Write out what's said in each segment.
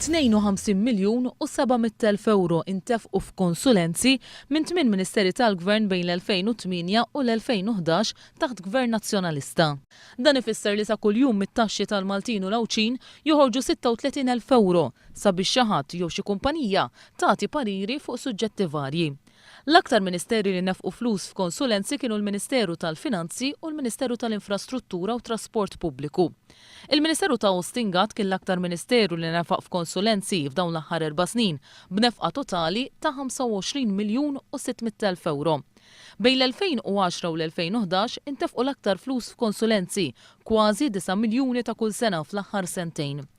52 miljun u 700 elf ewro intefqu f'konsulenzi minn tmien Ministeri tal-Gvern bejn l-2008 u l-2011 taħt Gvern Nazzjonalista. Dan ifisser li ta' kuljum mit-taxxi tal-Maltin u l-Għawdxin joħorġu 36 elf ewro sabiex xi ħadd jew xi kumpanija tagħti pariri fuq suġġetti varji. L-aktar ministeri li nefqu flus f'konsulenzi kienu l-Ministeru tal-Finanzi u l-Ministeru tal-Infrastruttura u Trasport Pubbliku. Il-Ministeru ta' Austin Gatt kien l-aktar ministeru li nefaq f'konsulenzi f'dawn l-aħħar erba' snin b'nefqa totali ta' 25 miljun u 600 elf ewro. Bejn l-2010 u l-2011 intefqu l-aktar flus f'konsulenzi, kważi disa' miljuni ta' kull sena fl-aħħar sentejn.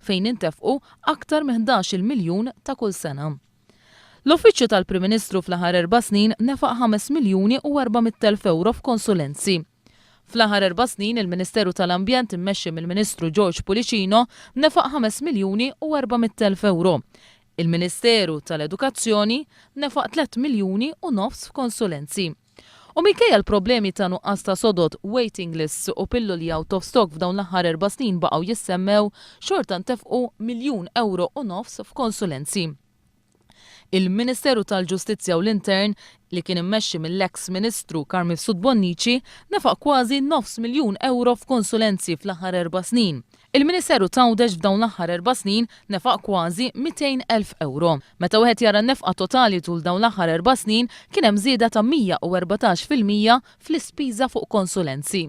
fejn jintefqu aktar minn ħdax-il miljun ta' kull sena. L-Uffiċċju tal-Prim Ministru fl-aħħar erba' snin nefaq ħames miljuni u erba' mitt elf ewro f'konsulenzi. Fl-aħħar erba' snin il-Ministeru tal-Ambjent immexxi mill-Ministru George Pullicino nefaq ħames miljuni u erba' mitt elf ewro. Il-Ministeru tal-Edukazzjoni nefaq tliet miljuni u nofs f'konsulenzi. U minkejja l-problemi ta' nuqqas ta' sodod, waiting lists u pilloli out of stock f'dawn l-aħħar erba' snin baqgħu jissemmew, xorta ntefqu miljun ewro u nofs f'konsulenzi. Il-Ministeru tal-Ġustizzja u l-Intern, li kien immexxi mill-eks Ministru Carl Mifsud Bonnici, nefaq kważi nofs miljun ewro f'konsulenzi fl-aħħar erba' snin. Il-Ministeru t'Għawdex f'dawn l-aħħar erba' snin nefaq kważi 200 elf ewro. Meta wieħed jara n-nefqa totali tul dawn l-aħħar erba' snin, kien hemm żieda ta' 114 fil-mija fl-ispiża fuq konsulenzi.